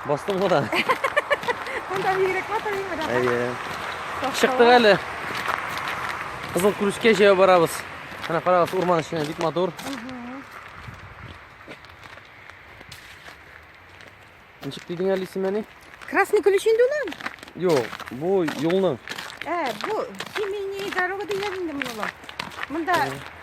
Бастым ғой да. Анда бигрәк матур име да? Әйе. Чыктык әле. Кызыл күрешкә җәяү барабыз. Менә карагыз, урман эченә бик матур. Ничек дидең әле исемене? Красный ключ инде улым? Юк, бу юлның. Ә, бу семейный дорога дигән инде моны улым. Монда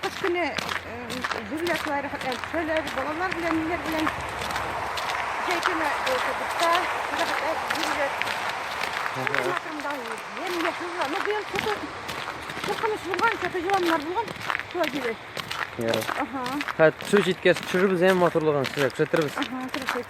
кыш көне җүләкләр, әлсәләр, балалар белән, ниләр белән җәй көне кибетта хәрәкәт җүләк. Шунда ем ясызга. Ну, быел күпе куркыныч булган, күпе җыланнар булган. Шулай диде. Ага. Хәт, су җиткәч, төшеребез әм моторлыгын сезгә күрсәтербез. Ага, күрсәт.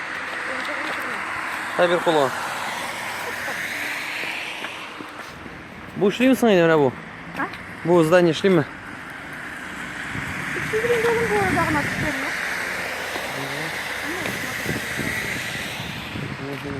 Дай бер кулы. Бу эшлиме соң инде менә бу? А? Бу здание эшлиме? Угу.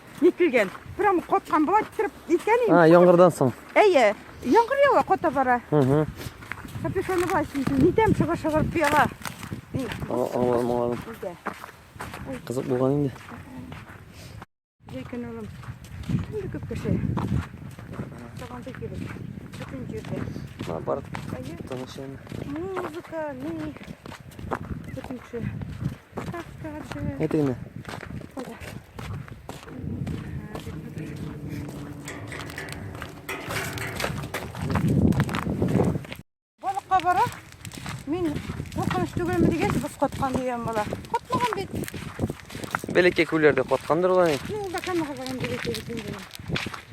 Ник килгән? Прям коткан була китереп икән инде. А, яңгырдан соң. Әйе. Яңгыр ява кота бара. Угу. Капюшоны бар синең. Нидән чыгы шыгырып пияла. Аңладым, аңладым. Кызык булган инде. Җәй көн улым. Инде күп кеше. Табанда килеп. Бөтен җирдә. Ма бар. Тыныч инде. Музыка, ни. Бөтен кеше. Каскады. Әйтегеме? Балыкка бара. Мин куркыныч түгелме дигәч, боз каткан дигән бала. Катмаган бит. Бәләкәй күлләрдә каткандыр ул әни. Мин бакан хәбәрен бәләкәй бит инде.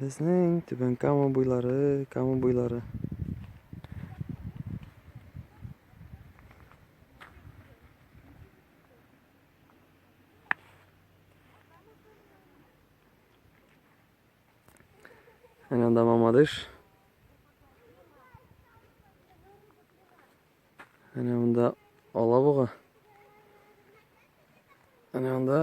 Безнең Түбән Кама буйлары, Кама буйлары. Әнә анда Мамадыш. Әнә монда Алабуга. Әнә анда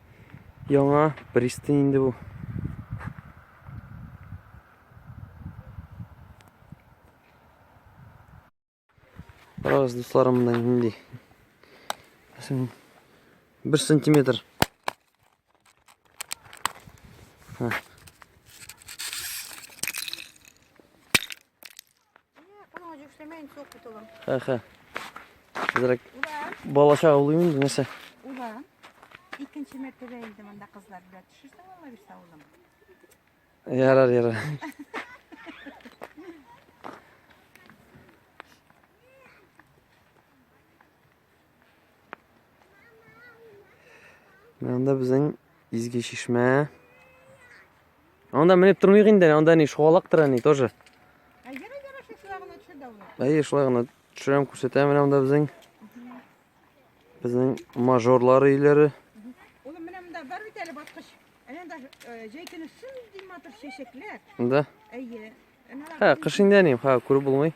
Яңа пристань инде бу. Карагыз, дусларым, монда нинди. Мәсәлән, 1 сантиметр. Ха. Хә-хә. Хәзерәк балача аулыйм инде, нәрсә? Улан. Икенче мәртәбә инде монда кызлар белән төшерсәң аңа бирсә улым. Ярар, ярар. Анда безнең изге чишмә. Анда менеп тормыйк инде, анда ни шугалак тора ни тоже. Әйе, шулай гына төшерәм, күрсәтәм менә анда безнең безнең мажорлар өйләре. Улым, менә монда бар бит әле баскыч. Әнә даже э, җәй көне син димә тор чәчәкләр. Да. Әйе. Ха, кыш инде ни, ха, күреп булмый.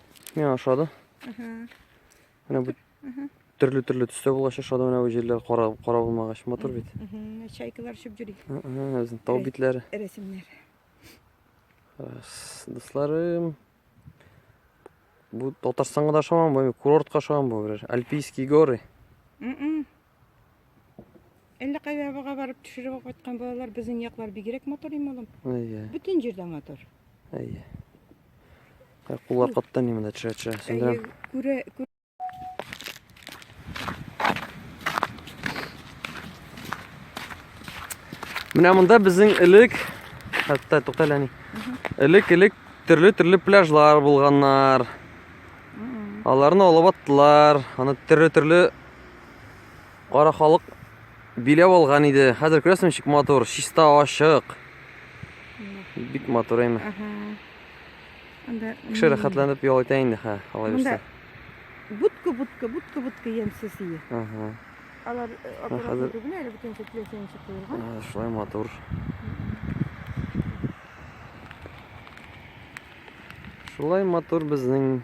Мә ашады. Менә бу төрле төрле төстә булгач ашады менә бу җирләр кара кара булмагач матур бит. Чайкалар шып җөри. Үзен тау битләре. Рәсемнәр. Хас, дусларым. Бу Татарстанга да шаман бу, курортка шаман бу, альпийские горы. Әллә кайда авага барып төшереп алып кайткан балалар безнең яклар бигрәк матур име улым? Әйе. Бөтен җирдә матур. Әйе. Ә куллар каттан ни монда төшә төшә. Сендерәм. Күрә күрә. Менә монда безнең элек хәтта туктале ни. Элек элек төрле төрле пляжлар булганнар. Аларны алып аттылар. Аны төрле төрле Кара халык биләп алган иде. Хәзер күрәсең ничек матур, чиста ачык. Бик матур әйме. Кеше рәхәтләнеп ял итә инде хә, алай бирсә. Будка, будка, будка, будка ямсыз ие. Ага. Алар э, аккуратно түгел әле бөтен көтле сенче куелган. Ага, шулай матур. Шулай матур безнең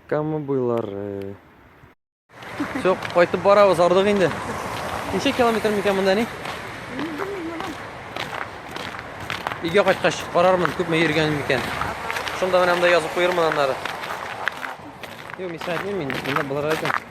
Кама буйлары. Все, кайтып барабыз, ардык инде. Ничә километр микән монда ни? Өйгә кайткач карармын, күпме йөргәнем микән. Шунда менә монда язып куермын аннары. Юк, мисәтмим мин, монда булыр икән.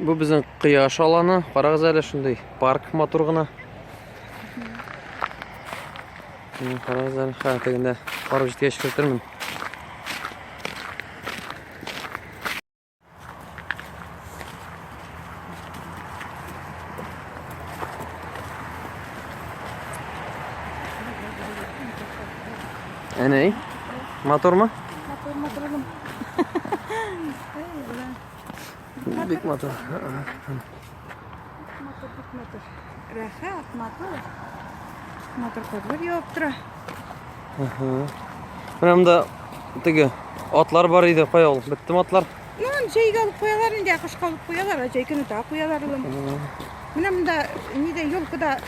Бу безнең кояш аланы. Карагыз әле шундый парк матур гына. Карагыз әле, хә, тегендә барып җиткәч кертермен. Әнәй, матурмы? Матур, матур. Бик матур. Матур, бик матур. Рәхәт, матур. Матур кызлар явып тора. Менә монда теге атлар бар иде, кая ул? Беттеме атлар? Ну, җәйгә алып куялар инде, кышка алып куялар, ә җәй көне тә куялар улым. Менә монда нидә, елкада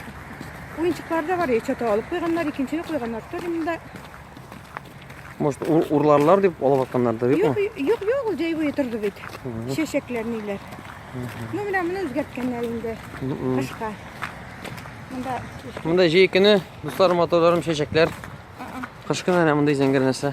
уенчыклар да бар, чата алып куйганнар, икенчене куйганнар. Тор монда Может, урларлар дип алып атканнардыр, юкмы? Юк, юк, юк, ул җәйгә торды бит. Чәчәкләр ниләр. Ну, менә моны үзгәрткәннәр инде. Кышка. Монда Монда җәй көне, дуслар, моторларым, чәчәкләр. Кышкы менә мондый зәңгәр нәрсә.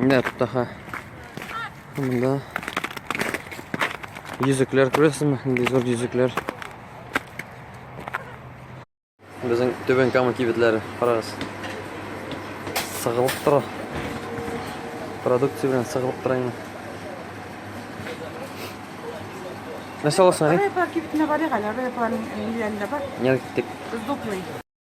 Менә тут аха. Монда йөзекләр күрәсезме? Нинди зур йөзекләр. Безнең Түбән Кама кибетләре, карагыз. Сыгылып тора. Продукция белән сыгылып тора инде. Нәрсә аласың әле? Репа кибетенә барыйк әле, репаның ниләрендә бар. Нәр киттек. Зуплый.